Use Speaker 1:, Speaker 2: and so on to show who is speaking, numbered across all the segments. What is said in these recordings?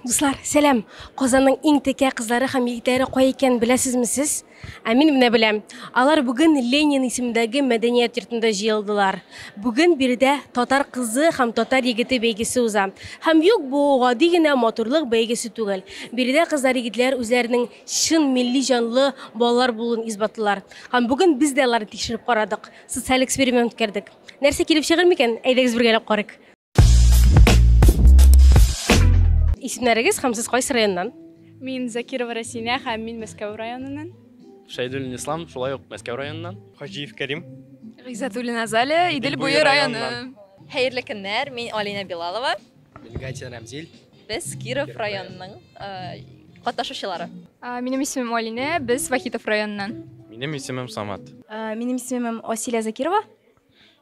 Speaker 1: Дуслар, сәлам. Казанның иң текә кызлары һәм егетләре кай икән беләсезме сез? Ә мин менә беләм. Алар бүген Ленин исемендәге мәдәният йортында җыелдылар. Бүген биредә татар кызы һәм татар егете бәйгесе уза. Һәм юк, бу гади генә матурлык бәйгесе түгел. Биредә кызлар егетләр үзләренең чын милли җанлы балалар булуын исбатлыйлар. Һәм бүген без дә аларны тикшереп карадык. Социаль эксперимент үткәрдек. Нәрсә килеп чыгыр микән? Әйдәгез бергәләп карыйк. Исемнәрегез һәм сез кайсы районнан? Мин Закирова
Speaker 2: Расинә һәм мин Мәскәү районыннан. Шәйдуллин
Speaker 3: Ислам, шулай ук Мәскәү районыннан. Хаҗиев Кәрим.
Speaker 4: Гыйззәтуллина
Speaker 2: Азалия, Идел буе районы. Хәерле көннәр,
Speaker 5: мин Алинә Билалова. Мин Гатин Рамзил.
Speaker 3: Без Киров
Speaker 5: районының катнашучылары. Минем
Speaker 2: исемем Алинә, без Вахитов районыннан. Минем исемем
Speaker 3: Самат. Минем исемем
Speaker 6: Асилия Закирова.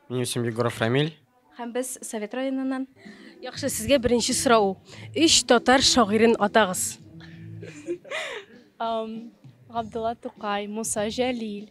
Speaker 6: Минем исемем
Speaker 3: Егоров Рамиль. Һәм без Совет
Speaker 6: районыннан. Яхшы, сезгә
Speaker 1: беренче сорау. Өч татар шагыйрен атагыз.
Speaker 2: Габдулла Тукай, Муса Җәлил,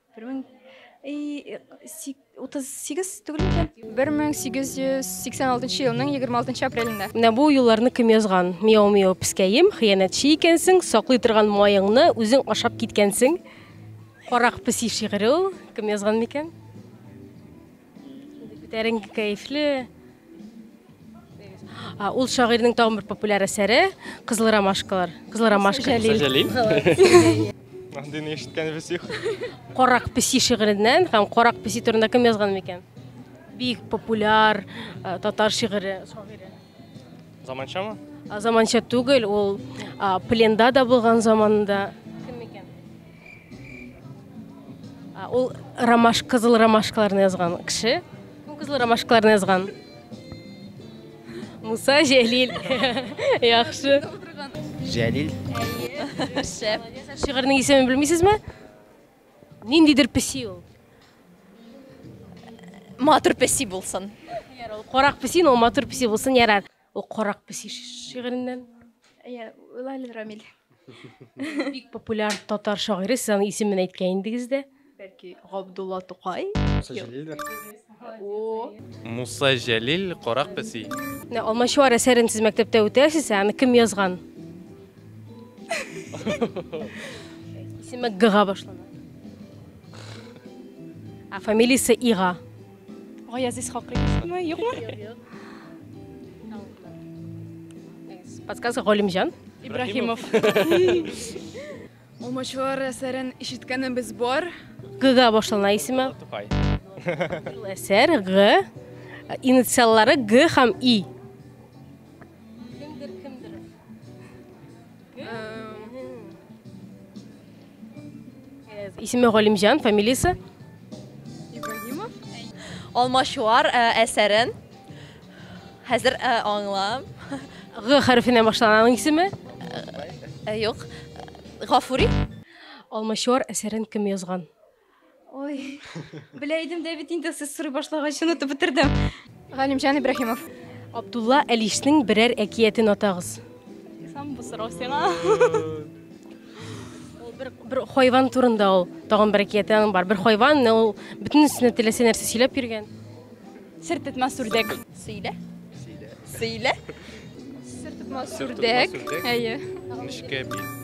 Speaker 1: Бер мең
Speaker 6: утыз сигез түгел микән? Бер мең сигез йөз сиксән алтынчы
Speaker 2: елның егерме алтынчы апрелендә. Менә бу юлларны кем
Speaker 1: язган? Мияу-мияу пескәем, хыянәтче икәнсең, саклый торган маеңны үзең ашап киткәнсең. Карак песи шигыре ул. Кем язган микән? Күтәренке кәефле. Ул шагыйрьнең тагын бер популяр әсәре Кызыл ромашкалар. Кызыл ромашка. Сәҗәлил.
Speaker 3: Андый
Speaker 4: ни ишеткән без юк. Карак песи
Speaker 1: шигыреннән һәм Карак песи турында кем язган микән? Бик популяр э, татар шигыре, шагыйре.
Speaker 4: Заманчамы? Заманча
Speaker 1: түгел, ул пленда да булган заманында Ул ромаш кызыл ромашкаларны язган кеше. Кем кызыл ромашкаларны язган? Муса Җәлил. Яхшы.
Speaker 3: Җәлил.
Speaker 5: Шәп. Шигырьнең
Speaker 1: исемен белмисезме? Ниндидер песи ул.
Speaker 5: Матур песи булсын. Ярар, ул карак
Speaker 1: песи, но матур песи булсын, ярар. Ул карак песи шигыреннән. Әйе,
Speaker 6: Лалил Рамил. Бик
Speaker 1: популяр татар шагыйре, сез аның исемен әйткән идегез дә. Бәлки Габдулла
Speaker 6: Тукай. Муса Җәлилдер.
Speaker 3: О. Муса Җәлил, Карак песи. Менә Алмачуар
Speaker 1: әсәрен сез мәктәптә үтәсез, ә аны кем язган? Исеме Г-га башлана. Ә фамилиясе Ига. Гаязиз
Speaker 2: Хакыйковмы, юкмы?
Speaker 1: Подсказка Галимҗан. Ибраһимов.
Speaker 2: Алмачуар әсәрен ишеткәнебез бар. Г-га башлана
Speaker 1: исеме. Тукай.
Speaker 4: Ул
Speaker 1: әсәр Г. Инициаллары Г һәм И. Исеме Галимҗан, фамилиясе?
Speaker 2: Ибраһимов.
Speaker 5: Алмачуар әсәрен хәзер аңлам. Г
Speaker 1: хәрефенә башлана аның исеме?
Speaker 5: Юк. Гафури.
Speaker 1: Алмачуар әсәрен кем язган? Ой,
Speaker 6: белә идем дә бит инде сез сорый башлагач онытып бетердем. Галимҗан
Speaker 2: Ибраһимов. Абдулла
Speaker 1: Әлишнең берәр әкиятен атагыз. Сам бу
Speaker 2: сорау сиңа.
Speaker 1: Ул бер, бер хайван турында ул. Тагын бер әкияте аның бар. Бер хайван, менә ул бөтен өстенә теләсә нәрсә сөйләп йөргән. Сер
Speaker 2: тетмәс үрдәк. Сөйлә.
Speaker 5: Сөйлә.
Speaker 3: Сер тетмәс
Speaker 2: үрдәк.
Speaker 3: Әйе.
Speaker 2: Нечкә бит.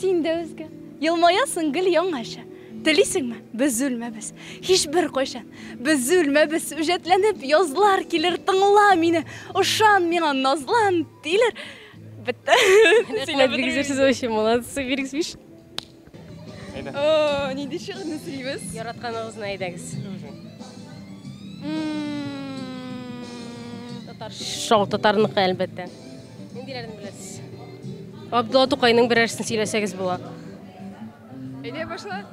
Speaker 2: Син дә үзгә. Елмаясың гел яңача. Телисеңме? Без үлмәбез. Һичбер кайчан. Без үлмәбез. Үҗәтләнеп язлар килер, тыңла мине. Ошан миңа, назлан, тилер. Бетте. Рәхмәт,
Speaker 1: бик зур сүз өчен. Молодцы, бик биш. О,
Speaker 2: нинди шигырьне сөйлибез? Яратканыгызны әйдәгез.
Speaker 1: Татар шау татарныкы әлбәттә. Ниндиләрен беләсез? Абдулла Тукайның берәрсен сөйләсәгез була.
Speaker 2: Әйдә башла.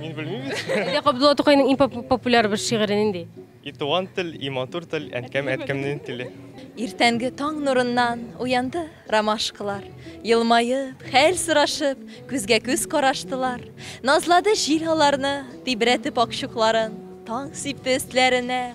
Speaker 2: Мин белмим.
Speaker 4: Әйдә Абдулла Тукайның
Speaker 1: иң популяр бер шигыре нинди? И туган тел,
Speaker 4: и матур тел, әнкәм әткәмнең теле. Иртәнге таң
Speaker 5: нурыннан уянды ромашкалар. Елмаеп, хәл сорашып, күзгә күз караштылар. Назлады җил аларны, тибрәтеп акчукларын. Таң сипте өстләренә,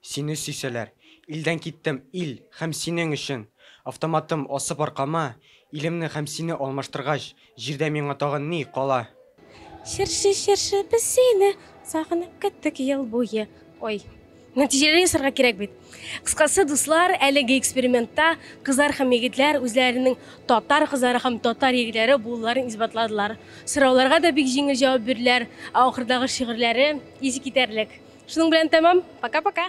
Speaker 7: Сине сөйсәләр. Илдән киттем, ил, һәм синең өчен! Автоматым асып аркама, илемне һәм сине алмаштыргач, җирдә миңа тагын ни кала? Чыршы,
Speaker 1: чыршы, без сине сагынып көттек ел буе. Ой. Нәтиҗәле ясарга кирәк бит. Кыскасы, дуслар, әлеге экспериментта кызлар һәм егетләр үзләренең татар кызлары һәм татар егетләре булуларын исбатладылар. Сорауларга да бик җиңел җавап бирделәр, ә ахырдагы шигырьләре искитәрлек. Шуның белән тәмам. Пока-пока.